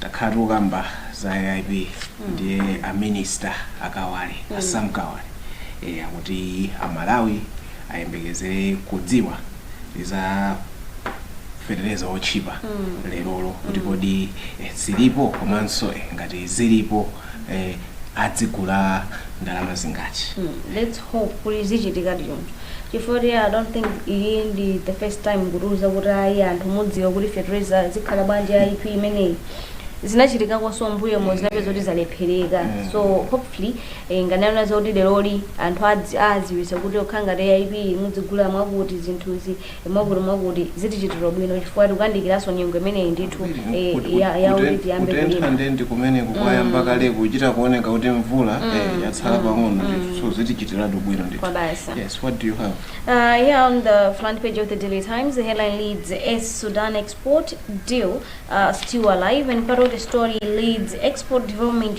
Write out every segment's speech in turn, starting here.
Takhala tikukamba za AIP ndiye a minister a Kawale, a Sam Kawale eh, akuti a Malawi ayembekezere kudziwa za fetereza otchipa lerolo kuti kodi eh, zilipo komanso eh, ngati zilipo eh, azigula ndalama zingati let's hope kuti zichitika choncho chifukwa kuti i don't think iyi ndi the first time kutiuza kuti ayi anthu mudziwa kuti fertilizer zikhala bwanji AIP imeneyi zinachitikakonso mmbuyomo zinapeza kuti zalephereka so hopefully eh, nanga anena zoti leroli anthu adzi- adziwisa kuti kukhala ngati AIP muzigula mwakuti zinthuzi mwakuti mwakuti zitichitira ubwino chifukwa tikuyandikiranso nyengo imeneyi ndithu Kut- eh, kut- ya- kut- yakuti kuten- tiyambe kutentha kulima nde ndi mmene kukuyamba kale kuchita kuoneka kuti mvula eh, yatsala pang'ono ndithu so zitichitiratu bwino ndithu kwabasi yes what do you have Uh, here on the front page of the Daily Times, the headline reads S Sudan export deal uh, still alive, and part of the story reads export development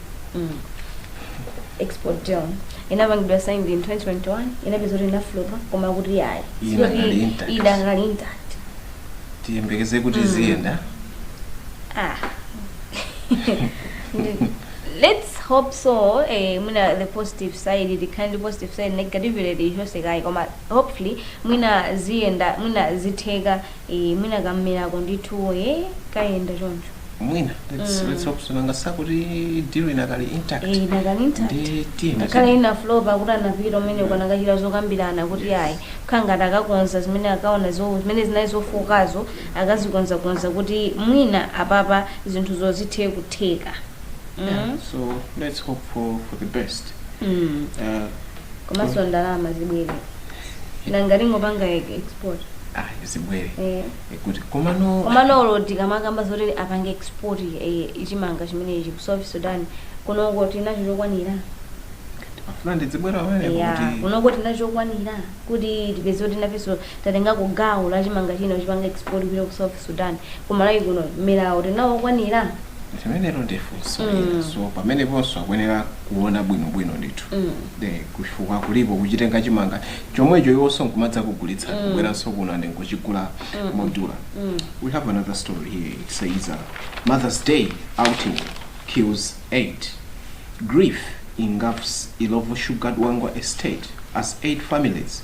Mm. export deal inapangidwa sign in 2021 inapezeka kuti inaflopa koma kuti yayi Iye Sio inakali i- intact. idakali intact tiyembekeze kuti ziyenda ah let's hope so eh, mwina the positive side the kind of positive side negativity ichokekayi koma hopefully mwina ziyenda mwina zitheka Eee mwina kam'menako ndithu ee kayenda choncho. mwina let's let's hope so nanga si akuti deal inakali intact Eee inakali intact. ndithu Ngakhale ina flop akuti anapita kumeneko anakachita zokambirana kuti Yes. ayi kukhala ngati akakonza zimene akaona zo- zimene zinali zofookazo akazikonzakonza kuti mwina apapa zinthu zizithe kutheka. Yeah, Mm. so let's hope for for the best Mm. uh, komanso ndalama zibwere nanga tingopanga e- export ah zibwere eh. Eh, kuti komano komano olo tikamakamba zoti apange export eh, chimanga chimenechi ku south sudan kunoko tinacho chokwanira ndimafuna ndizibwera pamenepo ya kuti kunoko tinacho chokwanira kuti tipezeke kuti nafenso tatenga ku gawo la chimanga china tipanga export kupita ku south Sudan. Ku Malawi kuno mmeramo tili nawo okwanira? limenelo ndi funso lina so pameneponso akuyenera kuona bwinobwino ndithu Eh, chifukwa kulipo kuchitenga chimanga chomwecho iwonso nkumadza kugulitsa kubweranso kuno and nkuchigula modula we have another story here it says uh, mother's day outing kills 8 grief engulfs Illovo sugar dwangwa estate as 8 families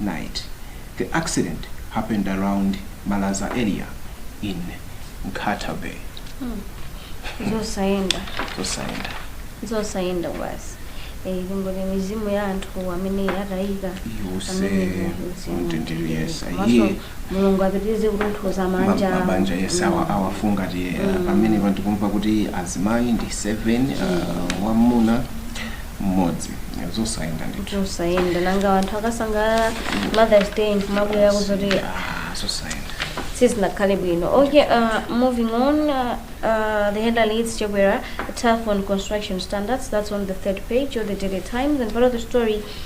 night the accident happened around malaza area in nkhata bay zosayenda zosayenda zosayenda basi Eh, kungoti mizimu ya anthu amene atayika iuse, amene mzimu. "Mtendere, yes, Komanso iye." mulungu apitirize kutonthoza Ma- mabanja awo. mabanja yes awa- awafungatire eh, pamene anthu kumva kuti azimayi ndi 7 uh, wamuna mmodzi Eh, zosayenda ndithu zosayenda nanga anthu akasangalala mothers day nkumabwera kuzoti Ah, zosayenda sizinakhale bwino okay uh, moving on uh, uh, the header leads chakwera tough on construction standards that's on the third page of the daily times and part of the story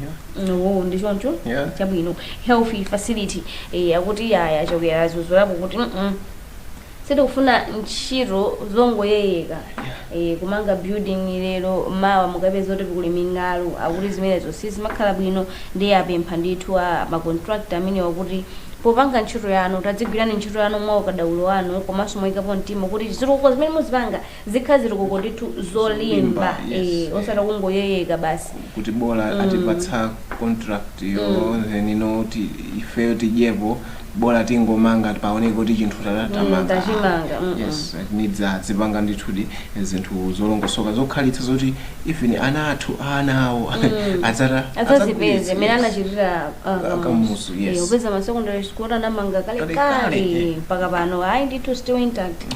Yeah. no ndi choncho Yeah. chabwino health facility eh, akuti yaya Chakwera zuzulapo kuti mm, sitikufuna ntchito zongoyeyeka eh, kumanga building lero mawa mukapeza kuti kuli ming'alu akuti zimenezo sizimakhala bwino ndiye apempha ndithu ma contractor amenewa kuti popanga ntchito yanu tadzigwirani ntchito yanu mwa ukadaulo wanu komanso moyikapo mtima kuti zitukuko zimene muzipanga Zikhale zitukuko ndithu zolimba Zolimba, yes. eh, osati kungoyeyeka basi kuti bola atipatsa contract yo then no kuti ifeyo tidyepo bola tingomanga paoneke kuti chinthu tata- tamanga. tachimanga, mm, yes it needs azipanga ndithudi zinthu zolongosoka zokhalitsa zoti even ana athu ana awo adzazipeze mmene anachitira ah, Ka- Kamuzu, yes. Eh, upeza ma secondary school anamanga Kalekale. kalekale mpaka pano ayi ndithu still intact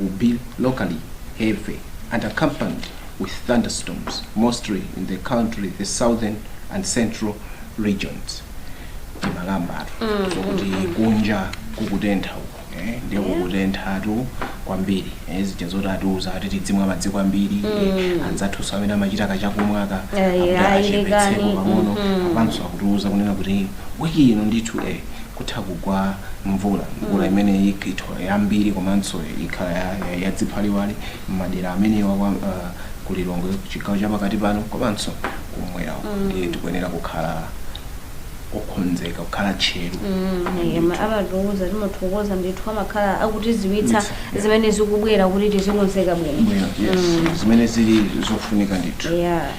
will be locally heavy and accompanied with thunderstorms, mostly in the country's southern and central regions. timakambatu kuti kunja kukutentha uko eh, ndiye kukutenthatu kwambiri eh, zija zoti atiuza ati tidzimwa madzi kwambiri eh, anzathuso amene amachita kachakumwaka Eh, akuti ayi, achepetseko lekani. pang'ono apanso akutiuza kunena kuti wiki ino ndithu eh, kutha kugwa mvula, mvula imene ikhale yambiri komanso ikhala ya, ya, ya dziphaliwali m'madera amenewa kwa uh, ku Lilongwe chigawo chapakati pano komanso kumwera uko ndiye tikuyenera kukhala okonzeka kukhala tcheru Yemwe amatiuza timathokoza ndithu amakhala akutiziwitsa Yes, yeah. zimene zikubwera kuti tizikonzeka bwino Bwino, yes. zimene zili zofunika ndithu yeah.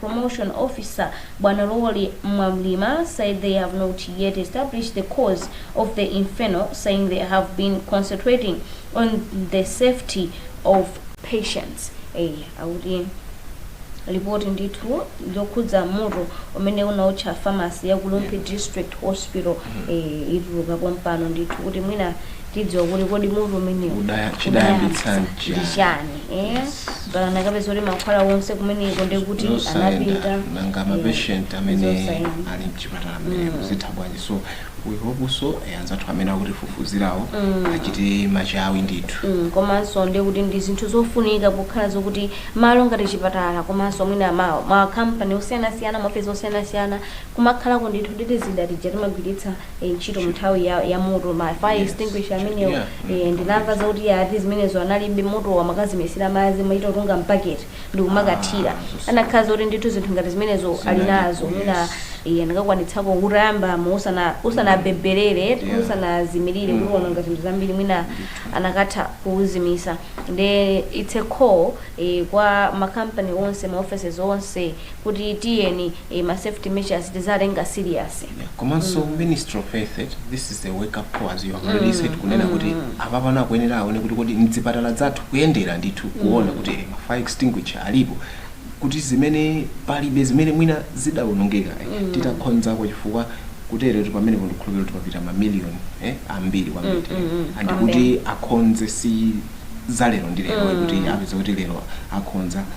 promotion officer Bwanalori Mwamlima said they have not yet established the cause of the inferno saying they have been concentrating on the safety of patients eh akuti lipoti ndithu zokhudza moto umene unaotcha pharmacy ya ku Rumphi district hospital eh, ituluka pompano ndithu kuti mwina tidziwa kuti kodi moto umenewu Udaya- chidayambitsa unayambitsa ndi chani? chani eh? Ngati anakapeza kuti mankhwala onse kumeneko ndi kuti Zosayenda anapita nanga eh, mapatient amene zosayenda. ali mchipatala amene kuzitha bwanji so we hope so eh, anzathu amene akutifufuzirawo achite machawi ndithu Mm, komanso ndiye kuti ndi zinthu zofunika kokhala zokuti malo ngati chipatala komanso mwina ma, ma company osiyanasiyana maofesi osiyanasiyana kumakhalako ndithu titi zida tija timagwiritsa eh, ntchito mu nthawi ya, ya moto ma fire Yes. extinguisher amenewo Yeah. eh, ndinamva zakuti iye ati zimenezo analibe moto amakazimitsira madzi kumaita kutunga m'baketi ndi kumakathira Ah, anakhala zoti ndithu zinthu ngati zimenezo ali Zinalipo, nazo yes. mwina iye akadakwanitsako poyamba pomwe usana usanabebelere Yeah. usanazimirire Mm. kuona ngati zinthu zambiri mwina anakatha kuuzimitsa nde it's a call eh, kwa makampani onse ma offices onse kuti tiyeni eh, ma safety measures tiziwatenga serious Yeah, komanso ministry of health eh, this is a wake up call as you have already said kunena kuti apapano akuyenera aone kuti kodi mdzipatala zathu kuyendera ndithu kuona kuti eh, ma fire extinguisher alipo kuti zimene palibe zimene mwina zidaonongeka eh, tithe kukonza chifukwa kuteretu pamenepo ndikukhulupirira kuti papita mamiliyoni eh, ambiri kwambiri Mm, mm, mm, and kwambiri. kuti akonze si za lero ndi lero kuti apeze kuti lero akonza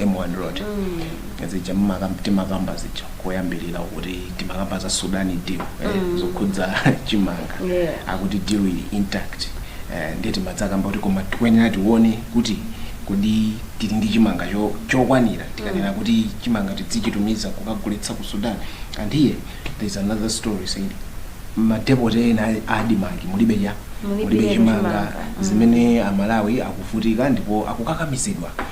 M1 road zija mmakam- timakamba zija koyambirira kuti timakamba za Sudan deal eh, yokhudza chimanga Yeah. akuti deal ili intact eh, ndiye tinadzakamba kuti koma tikuyenera tione kuti kodi tili ndi chimanga cho- chokwanira tikanena kuti chimanga tidzichitumiza kukagulitsa ku Sudan and here there is another story saying madepote ena a- ADMARC mulibe ya Mulibe mulibe chimanga chimanga. zimene aMalawi akuvutika ndipo akukakamizidwa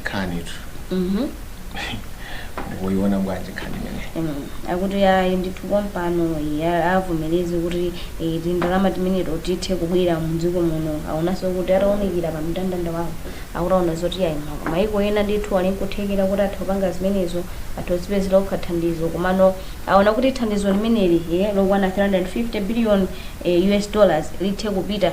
nkhani 2 Mhm. mukuyiona bwanji nkhani imene Mm, akuti ayi ndithu pompano ya- avomereze kuti eh, tindalama timeneto tithe kubwera mdziko muno aonanso kuti ataunikira pa mndandanda wawo akutha kuona zoti ayi ma- maiko ena ndithu ali nkuthekera kuti atha kupanga zimenezo atha kudzipezera okha thandizo komano aona kuti thandizo limeneli eh, lokwana 350 billion eh, us dollars lithe kupita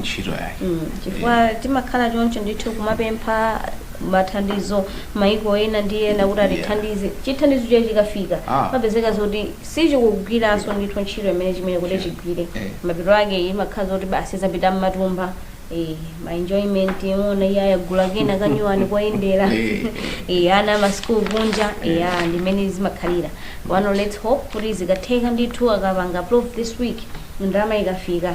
ntchito yake Mm, chifukwa timakhala choncho ndithu kumapempha mathandizo maiko ena ndi ena kuti atithandize chithandizo chija chikafika Ah. kumapezeka zoti sichikugwiranso ndithu ntchito imene chimayenera kuti chigwire Eh. mapeto ake imakhala zoti basi zapita mmatumba eh, ma enjoyment uwona iye wagula kena kanyuwani koyendera Eh. eh, ana amasukulu kunja eh, ah, ndi mmene zimakhalira pano let's hope kuti zikatheka ndithu akapanga approve this week ndalama ikafika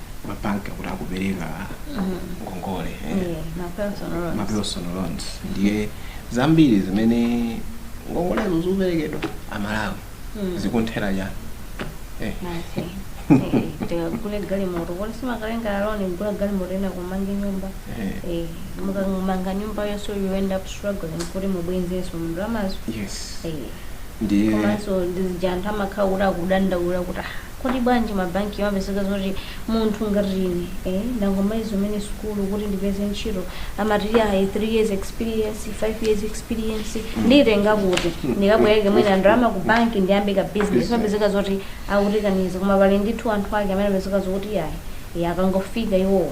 mabanki akuti akupereka ngongole eh, Yeah, ma personal loans. ma personal loans ndiye zambiri zimene ngongolezo zikuperekedwa aMalawi Mm. zikuthera chani eh. Masi. Eh, tikagule galimoto kuti tikatenge loan tigule galimoto ena kumanga nyumba Eh. Eh, mukamanga nyumbayonso you end up struggling kuti mubwezenso ndalamazo yes Eh, ndiye komanso ndi zija anthu amakhala kuti akudandaula kuti "Ah, Kodi bwanji mabankiwo amapezeka zoti munthu ngati ine eh, ndangomaliza kumene sukulu kuti ndipeze ntchito amati yayi 3 years experience 5 years experience nditenga kuti ndikabwereke mwina ndalama ku bank ndiyambe ka business Business. amapezeka zoti akutikaniza koma pali ndithu anthu ake amene amapezeka zokuti yayi eh, akangofika iwowo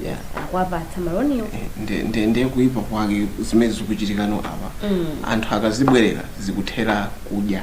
yeah. akuwapatsa maloniwo Eh, ndi- ndi- ndiye kuipa kwake zimene zikuchitika nowo apa Mm. anthu akazibwerera zikuthera kudya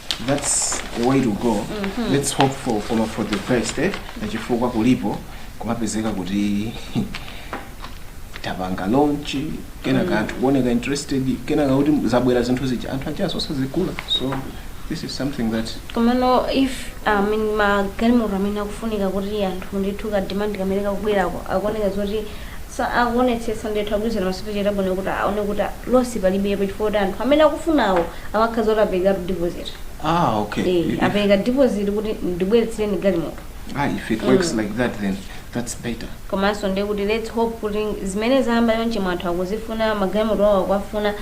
that's the way to go let's hope for ah for the best eh? chifukwa kulipo kumapezeka kuti tapanga launch kenaka anthu kuoneka interested kenakano kuti zabwera zinthu zija anthu akenso sazigula so this is something that komano if I mean, magalimoto amene akufunika kuti anthu ndithu ka demand kamene kakubwerako akuoneka zoti Sa akuonetsetsa ndithu, akugwirizana masupplier bwino kuti aone kuti a, loss palibepo chifukwa kuti anthu amene akufunawo amakhala zoti aperekatu deposit. Ah, okay. Eh, If- apereka deposit kuti ndibweretsereni galimoto. ah, if it works like that, then that's better. komanso ndiye kuti let's hope kuti zimene zayamba chonchi mma anthu akuzifuna magalimoto awo akuwafuna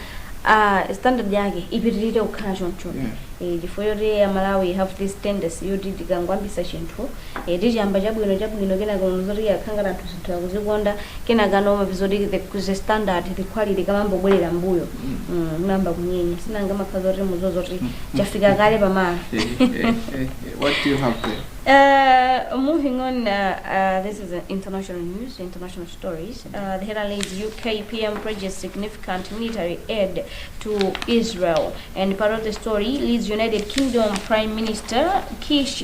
ah, standard yake ipitirire kukhala choncho Yeah. Eh, chifukwa yoti Amalawi have this tendency yoti tikangoyambisa chinthu tichiyamba chabwino chabwino kenaka ukaona zoti yakhala ngati anthu zinthu akuzikonda kenakano umapeza zoti the, the standard the quality kumayamba kubwerera mbuyo mm, inayamba kunyenya si nanga umakhala zoti mudziwa zoti chafika kale pamalo What do you have there? Uh, moving on, uh, uh, this is uh, international news, international stories. Uh, the headline is UK PM pledges significant military aid to Israel. And part of the story reads United Kingdom Prime Minister Kish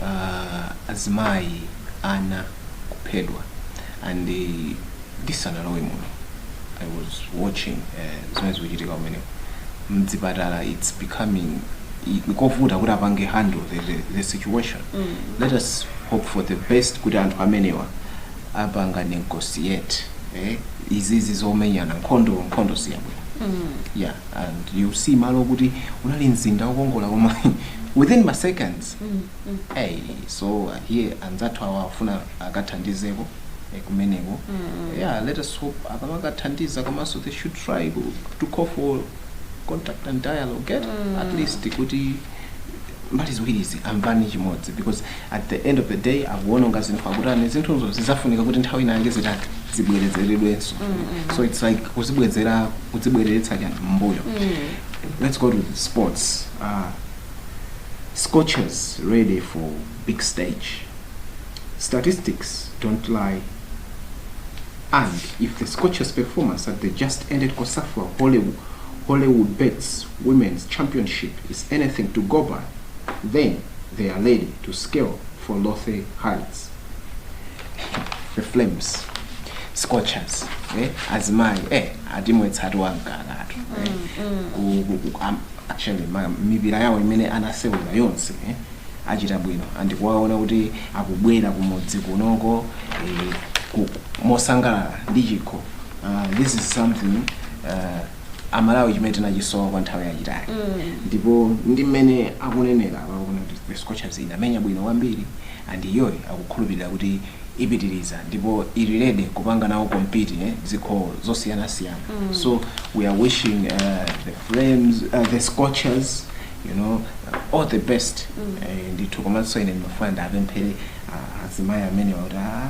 uh, azimayi ana kuphedwa and eh, ndisanalowe muno i was watching uh, zimene zikuchitika kumeneko mdzipatala it's becoming i- nkovuta kuti apange handle the, the, the situation let us hope for the best kuti anthu amenewa apange negotiate eh? izizi zomenyana nkhondo nkhondo siyabwino yeah and you see malo okuti unali mzinda wokongola koma eh within ma seconds Mm, mm. hey, so uh, here anzathu awa afuna akathandizeko eh, kumeneko Mm, mm. yeah let us hope akamakathandiza komanso they should try ku- to call for contact and dialogue get Mm. at least kuti mbali ziwirizi amvane chimodzi because at the end of the day akuwononga zinthu akutani zinthuzo zizafunika kuti nthawi ina yake zitati zibwerezeredwenso so it's like kuzibwezera kuzibwereretsa chani mbuyo let's go to the sports uh, scorchers ready for big stage statistics don't lie and if the scorchers performance at the just ended cosafa hollywood, hollywood bets women's championship is anything to go by then they are ready to scale for lofty heights the flames scorchers eh? azimayi eh, atimwetsatu wamkakatu eh? Ku- ku- ku- am- actually ma- mipira yawo imene anasewera yonse eh? achita bwino and kuwaona kuti akubwera kumudzi kunoko eh, ku- mosangalala ndi chikho uh, this is something uh, amalawi chimene tinachisowa kwa nthawi yayitali ndipo ndi mmene akunenera akuona kuti the scorchers inamenya bwino kwambiri and iyoyo akukhulupirira kuti ipitiriza ndipo ili ready kupanga nawo compete eh, zikho zosiyanasiyana so we are wishing uh, the flames uh, the scorchers you know all the best Eh, ndithu komanso ine ndimafuna ndapemphere ah, azimayi amenewa kuti ah,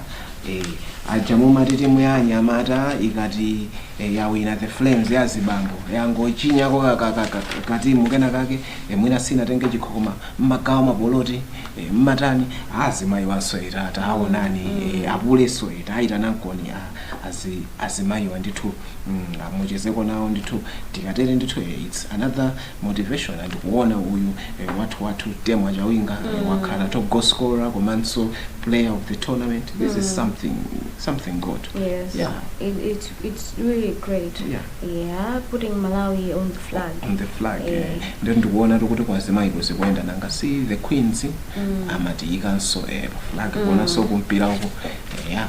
Eh, paja mumati timu ya anyamata ikati eh, yawina the flames ya zibambo yangochinyako ka- ka- ka- ka- katimu kena kake eh, mwina sinatenge chikho koma mmagawa mapoloti eh, mmatani azimayiwanso ta- taawonani eh, apulenso taayitanankoni a- azi- azimayiwa ndithu mm, ah muchezeko nawo ndithu tikatere ndithu eh, its another motivation and kuona uyu eh, wathu wathu temwa chawinga mm. wakhala top goal scorer komanso player of the tournament this mm. is something something good yes yeah it, it, it's really great yeah. yeah putting malawi on the flag on the flag yeah. yeah. Eh. ndio ndikuona kuti kwazimayi kuzikuenda nanga si the queens mm. amatiyikanso eh, flag mm. kuonanso kumpira uko eh, yeah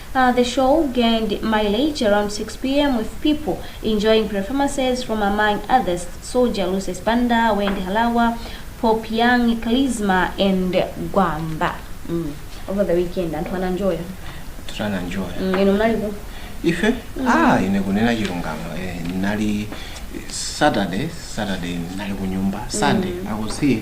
The show gained mileage around 6 pm with people enjoying performances from among others Soldier Lucius Banda, Wendy Halawa, Pop Young, Charisma and Gwamba. Mm. Over the weekend anthu ananjoya. tutana njoya Mm, inu mnalipo. ife ah ine kunena chilungamo eh, nali saturday saturday nali kunyumba sunday i was here